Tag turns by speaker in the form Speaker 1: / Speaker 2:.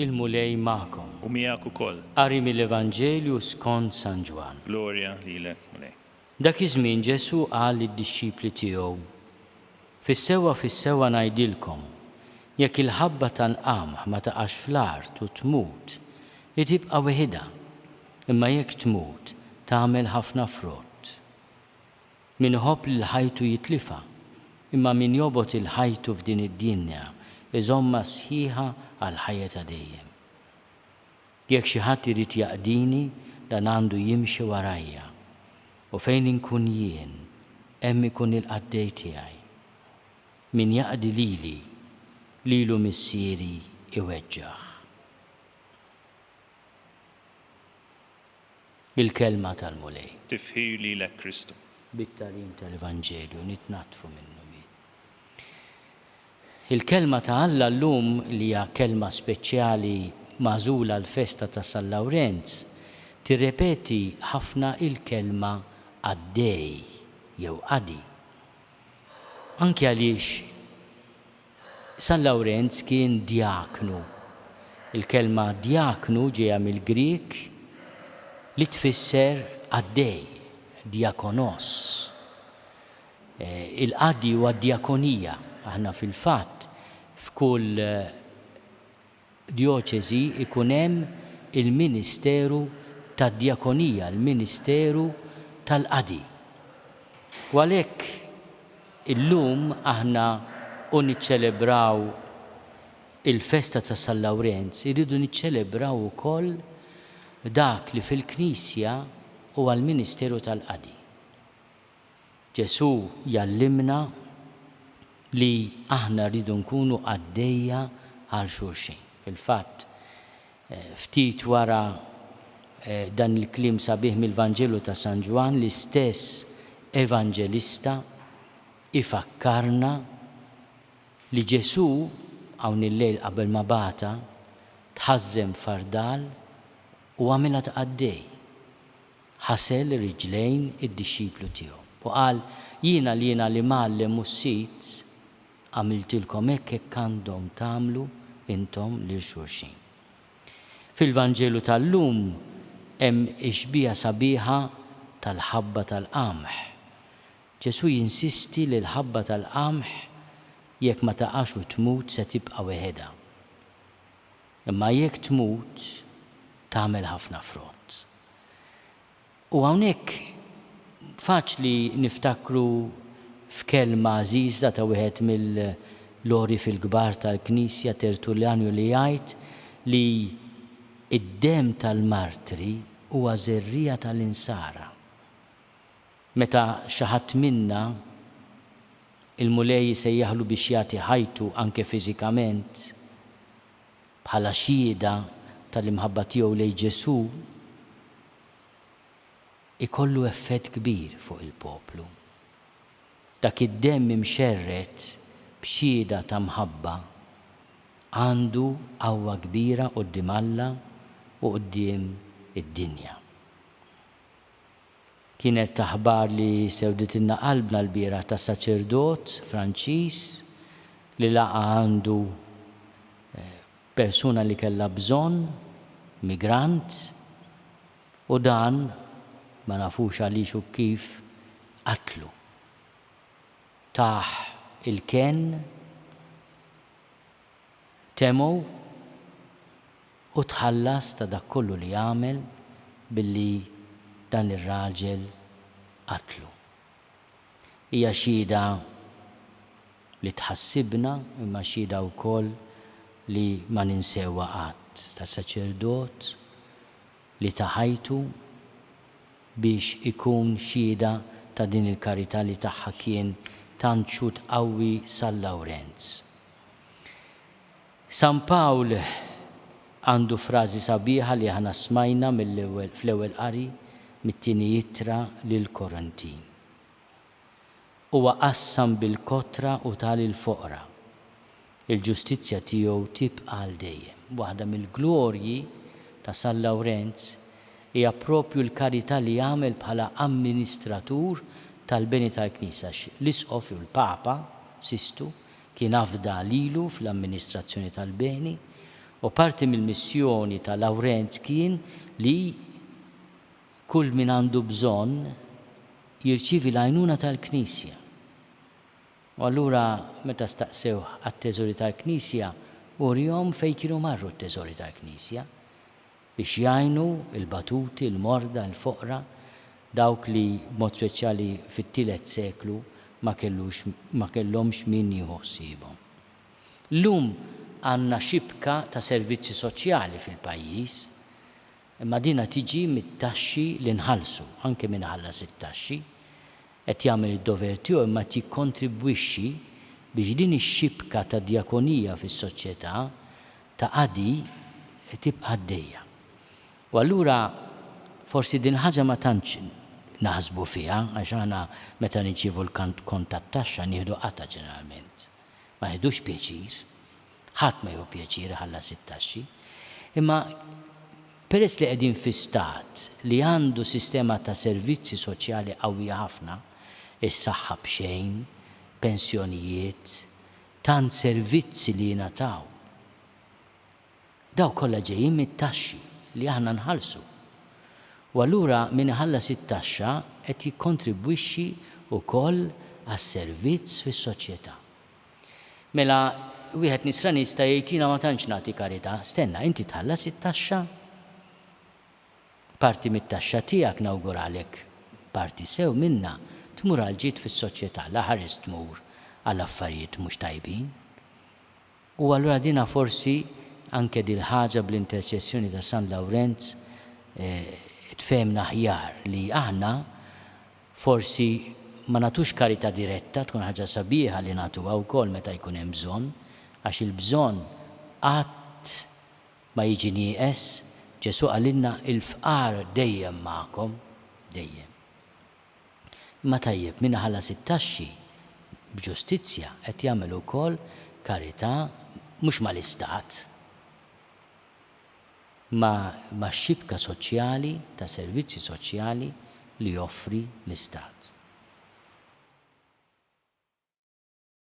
Speaker 1: il-Mulej magħkom. U miegħek ukoll.
Speaker 2: Qari mill-Evanġelju
Speaker 1: skont San Ġwann. Glorja lilek,
Speaker 2: Mulej. Dak iż-żmien
Speaker 1: Ġesù qal lid-dixxipli tiegħu, Fis-sewwa fis-sewwa ngħidilkom, jekk il-ħabba tal-qamħ ma taqax fl-art u tmut, hi tibqa' weħidha, Imma jekk tmut, tagħmel ħafna frott. Min iħobb lil ħajtu jitlifha, imma min jobgħod 'il ħajtu f'din id-dinja iżommha sħiħa għall-ħajja ta' dejjem. Jekk xi ħadd irid jaqdini, dan għandu jimxi warajja. U fejn inkun jien, hemm ikun il-qaddej tiegħi. Min jaqdi lili, lilu Missieri jweġġgħah. Il-Kelma tal-Mulej. Tifħir lilek
Speaker 2: Kristu. Bit-tagħlim
Speaker 1: tal-Evanġelju nitnaddfu min-numi. Il-Kelma ta' Alla llum li hija kelma speċjali magħżula għall-festa ta' San Lawrenz tirrepeti ħafna il-kelma qaddej jew qadi. Anki għaliex San Lawrenz kien djaknu. Il-kelma djaknu ġejja mill-Grieg li tfisser qaddej, diakonos. Il-qaddi huwa d-djakonija. Aħna fil-fatt f'kull djoċesi jkun hemm il-ministeru tad-djakonija, l-ministeru tal-qadi. U għalhekk illum aħna u niċċelebraw il-festa ta' San Lawrenz irridu niċċelebraw ukoll dak li fil-Knisja huwa l-ministeru tal-qadi. Ġesù jgħallimna li aħna rridu nkunu qaddejja għal xulxin. Fil-fatt, ftit wara dan il-kliem sabiħ mill-Vanġelu ta' San Ġwann, l-istess Evanġelista jfakkarna li Ġesù, hawn il-lejl qabel ma bagħatha, tħażżen f'fardal u għamilha ta' qaddej. Ħasel ir-riġlejn id-dixxiplu tiegħu, u qal, Jiena l-jiena l-Imgħallem u s-Sid għamiltilkom hekk hekk għandhom tagħmlu intom lil xulxin. Fil-Vanġelu tal-lum hemm ix-xbieha sabiħa tal-ħabba tal-qamħ. Ġesù jinsisti li l-ħabba tal-qamħ jekk ma taqax u tmut se tibqa' weħedha. Imma jekk tmut, tagħmel ħafna frott. U hawnhekk faċli niftakru f'kelma għażiża ta' wieħed mill-għorif il-kbar tal-Knisja, Tertuljanju li jgħid li d-demm tal-martri huwa żerriegħa tal-Insara. Meta xi ħadd minna, il-Mulej isejjaħlu biex jagħti ħajtu anke fiżikament, Bħala xhieda tal-imħabba tiegħu lejn Ġesù, ikollu effett kbir fuq il-poplu. Dak id-demm imxerred b'xhieda ta' mħabba għandu qawwa kbira quddiem Alla u quddiem id-dinja. Kienet ta' ħbar li sewditilna qalbna lbieraħ tas-saċerdot Franċiż li laqa' għandu persuna li kellha bżonn, migrant, u dan, ma nafux għaliex u kif, qatlu. Tah il-kenn. Temo u tħallas ta' dak kollu li għamel billi dan ir-raġel qatlu. Hija xhieda li tħassibna imma xhieda wkoll li ma ninsewha qatt ta' saċerdot li ta ħajtu biex ikun xhieda ta' din il-karità li tagħha kien tant xhud qawwi San Lawrenz. San Pawl għandu frażi sabiħa li aħna smajna fl-Ewwel Qari mit-Tieni Ittra lill-Korintin. Huwa qassam bil-kotra u ta lill-foqra. Il-ġustizzja tiegħu tibqa' għal dejjem. Waħda mill-glorji ta' San Lawrenz hija proprju l-karità li għamel bħala amministratur tal-beni tal-Knisja għax l-Isqof jew il-Papa, Sistu, Kien afda lilu fl-amministrazzjoni tal-beni u parti mill-missjoni ta' Lawrenz kien li kull min għandu bżonn jirċievi l-għajnuna tal-Knisja. U allura meta staqsewh għat-teżori tal-Knisja, urihom fejn kienu marru t-teżori tal-Knisja. biex jgħinu l-batuti, l-morda, l-foqra, dawk li, b'mod speċjali fit-tielet seklu, ma kellux ma kellhomx min jieħu ħsiebhom. Llum għandna xibka ta' servizzi soċjali fil-pajjiż, imma dinha tiġi mit-taxxi li nħallsu, anke min iħallas it-taxxi qed jagħmel id-dover tiegħu imma qed jikkontribwixxi biex din ix-xibka ta' djakonija fis-soċjetà ta' qadi tibqa' għaddejja. U allura forsi din il-ħaġa ma tantx naħsbu fiha għax aħna meta nirċievu l-kont tat-taxxa nieħdu qatgħa ġeneralment. Ma nieħdux pjaċir. Ħadd ma jieħu pjaċir iħallas it-taxxi. Imma peress li qegħdin fi stat li għandu sistema ta' servizzi soċjali qawwija ħafna, is-saħħa b'xejn, pensjonijiet, Tant servizzi li jingħataw. Dawn kollha ġejjin mit-taxxi li aħna nħallsu. U allura min iħallas it-taxxa qed jikkontribwixxi wkoll għas-servizz fis-soċjetà. Mela wieħed nisrani jista' jgħid jiena ma tantx nagħti karità. Stenna, inti tħallas it-taxxa? Parti mit-taxxa tiegħek nawguralek parti sew minnha tmur għal ġid fis-soċjetà la ħares tmur għal affarijiet mhux tajbin. U allura dinha forsi anke dil-ħaġa bl-interċessjoni ta' San Lawrenz tfehmna aħjar li aħna forsi ma nagħtux karità diretta tkun ħaġa sabiħa li nagħtuha wkoll meta jkun hemm bżonn għax il-bżonn qatt Ma jiġi nieqes, Ġesù qalilna il-fqar dejjem magħkom, dejjem. Imma tajjeb, min iħallas it-taxxi b'ġustizzja qed jagħmel ukoll karità mhux mal-istat, imma max-xibka soċjali ta' servizzi soċjali li joffri l-istat.